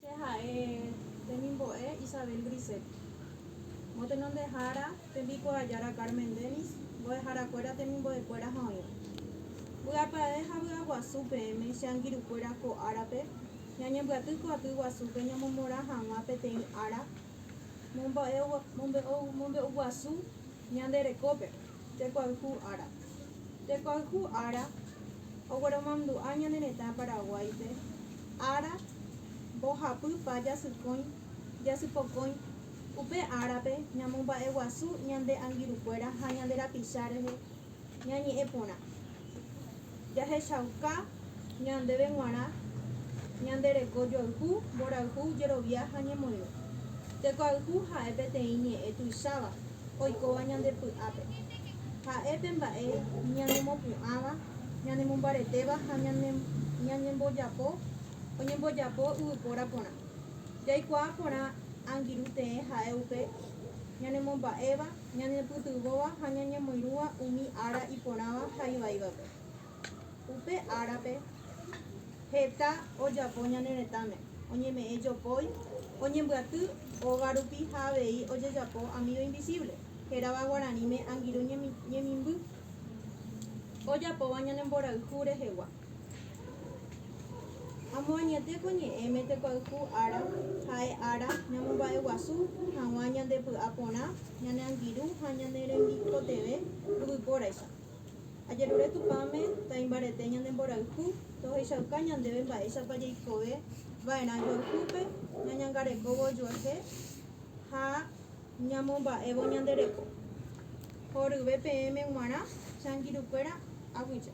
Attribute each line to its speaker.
Speaker 1: Che ha'e temimbo'e Isabel Grisset. Motenondehára tembikuaajára Carmen Denis, mbo'eharakuéra temimbo'ekuéra ha oĩva. Vy'apavẽ ha vy'aguasu peẽme che angirũkuéra ko árape ñañembyaty ko aty guasúpe ñamomorã hag̃ua peteĩ ára mombe'uguasu ñande rekópe. Tekoayhu ára. Tekoayhu ára ogueromandu'a ñane retã Paraguáipe ára mbohapy pa jasykõi, jasypokõi. Upe árape ñamomba'eguasu ñande angirukuéra ha ñande rapicha rehe ñañe'ẽ porã. Jahechauka ñandéve g̃uarã ñande reko joayhu, mborayhu, jerovia ha ñemoirũ. Tekoayhu ha'e peteĩ ñe'ẽ tuicháva oikóva ñande py'ápe. Ha'e pe mba'e ñanemopu'ãva, ñanemombaretéva ha ñañembojapo oñembojapo yvypóra porã. Jaikuaa porã angirũ tee ha'e upe ñanemomba'éva, Ñañepytyvõva ha ñañemoirũva umi ára iporãva ha ivaivape. Upe árape heta ojapo ñane retãme, oñeme'ẽ jopói, oñembyaty ógarupi ha avei ojejapo amigo invisible, hérava guaraníme angirũ ñemimby, ojapóva ñanemborayhu rehegua. Amoañete ko ñe'ẽme tekoayhu ára ha'e ára ñamomba'eguasu hag̃ua ñande py'a porã, ñane angirũ ha ñane rembikotevẽ yvypóraicha. Ajerure Tupãme taimbarete ñande mborayhu tohechauka ñandéve mba'éichapa jaikove va'erã joayhúpe ñañangarekóvo ojuehe ha Ñamomba'évo ñande reko. Horyve peẽme g̃uarã changirukuéra aguija.